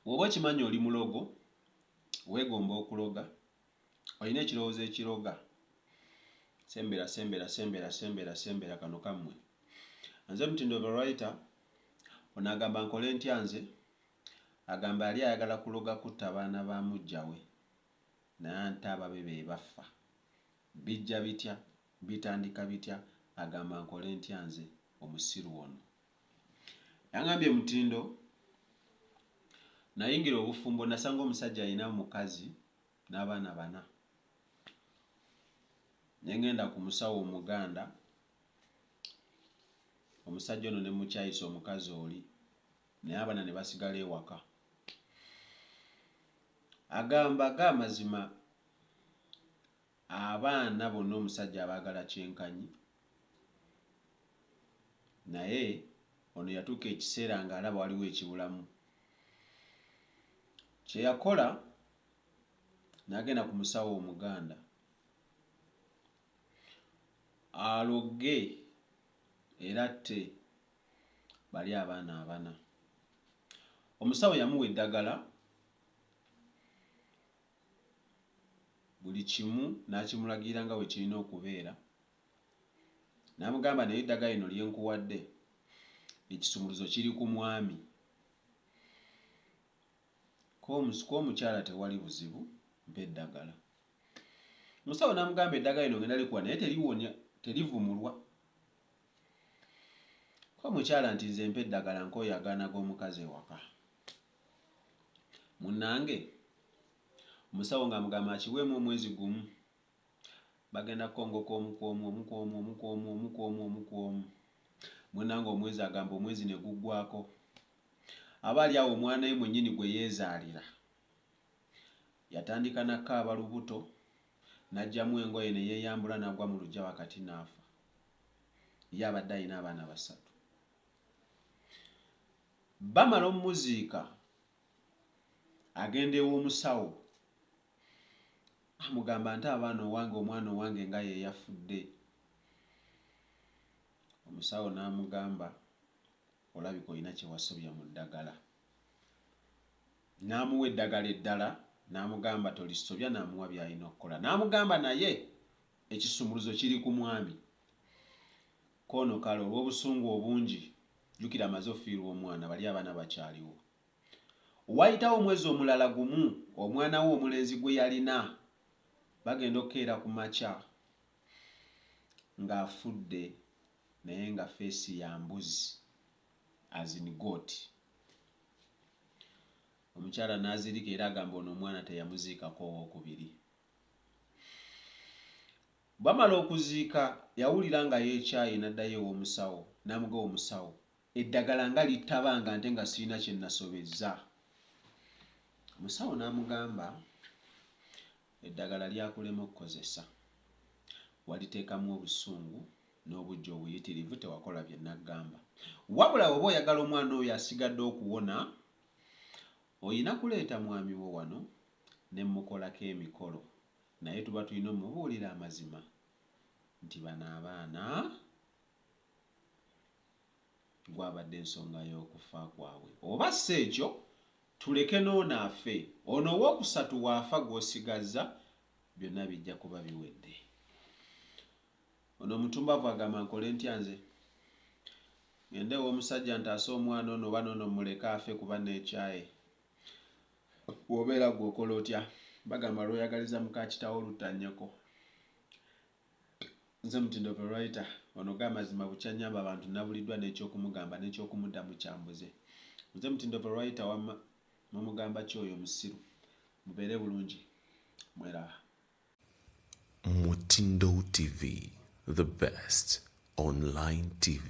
woba okimanyi oli mulogo wegomba okuloga olina ekirowoozo ekiroga sembera sembera sembera sembera sembera kano kammwe nze mutindo verita ono agamba nkole ntya nze agamba yali ayagala kuloga kutta abaana ba mujjawe nante ababe be baffa bijja bitya bitandika bitya agamba nkole ntya nze omusiru ono Yangambye Mutindo, Nayingira obufumbo nasanga omusajja alina mukazi n'abaana bana. Ne ng'enda ku musawo Omuganda, omusajja ono ne mmukyayisa omukazi oli naye abaana ne basigala ewaka. Agamba ga mazima Abaana bonna omusajja abaagala kyenkanyi naye ono yatuuka ekiseera ng'alaba waliwo ekibulamu. Kye yakola n'agenda ku musawo Omuganda aloge era atte bali abaana abana. Omusawo yamuwa eddagala buli kimu n'akimulagira nga bwe kirina okubeera. N'amugamba, Naye eddagala lino lye nkuwadde, ekisumuluzo kiri ku mwami. Ku omukyala tewali buzibu, mpa eddagala. Omusawo n'amugamba, Eddagala lino ngenda likuwa naye teliwonya, terivumulwa. Ko omukyala nti, Nze mpa eddagala nkooye agaana g'omukazi ewaka. munange omusawo ng'amugamba akiweemu omwezi gumu bagenda kukongoka omu ku omu omu ku omu omu ku omu omu ku omu omu ku omu munange omwezi agamba omwezi ne guggwako aba ali awo omwana ye mwennyini gwe yeezaalira yatandika nakaaba lubuto n'ajjamu engoye ne yeeyambula n'agwa mu lujja wakati n'afa ye abadde alina abaana basatu Bamala omuziika, agenda ew'omusawo amugamba nti abaana owange omwana owange nga yeyafudde. Omusawo n'amugamba olabika olina kyewasobya mu ddagala. N'amuwa eddagala eddala n'amugamba tolisobya n'amuwa byalina okukola. N'amugamba naye ekisumuluzo kiri ku mwami. Koono kale olwobusungu obungi jukira amaze ofiirwa omwana bali abana bakyaliwo. Wayitawo omwezi omulala gumu omwana wo omulenzi gweyalina bagenda okukeera kumakya nga afudde naye nga face ya mbuzi as in goat. Omukyala nazirika era agamba ono omwana teyamuziikako owokubiri. Bwamala okuziika yawulira nga yekyaaye naddayo ewomusawo namuga omusawo eddagala nga littabanga nte nga sirina kyenasobezza omusawo namugamba eddagala lyakulema okukozesa waliteekamu obusungu nobujja obuyitirivu tewakola byenakugamba wabula woba oyagala omwana oyo asigadde okuwona oyina kuleeta mwamiwo wano nemukolako emikolo Naye tuba tulina omubuulira amazima nti bano abaana gwabadde nsonga y'okufa kwabwe oba si ekyo tuleke n'ono afe ono owookusatu waafa gw'osigazza byonna bijja kuba biwedde. Ono omutumbavu agamba nkole ntya nze ngende ew'omusajja ntaase omwana ono oba n'ono mmuleke afe kuba neekyaye Bw'obeera ggwe okola otya? Bagamba lw'oyagaliza muka kitaawo lutta nnyoko. Nze Mutindo the writer, wano ga mazima bukya nnyamba bantu nabuliddwa n'ekyokumugamba n'ekyokumuddamu kyambuze. Nze Mutindo the writer wamma mumugamba ki oyo omusiru? Mubeere bulungi mweraba. Mutindo TV, the best online TV.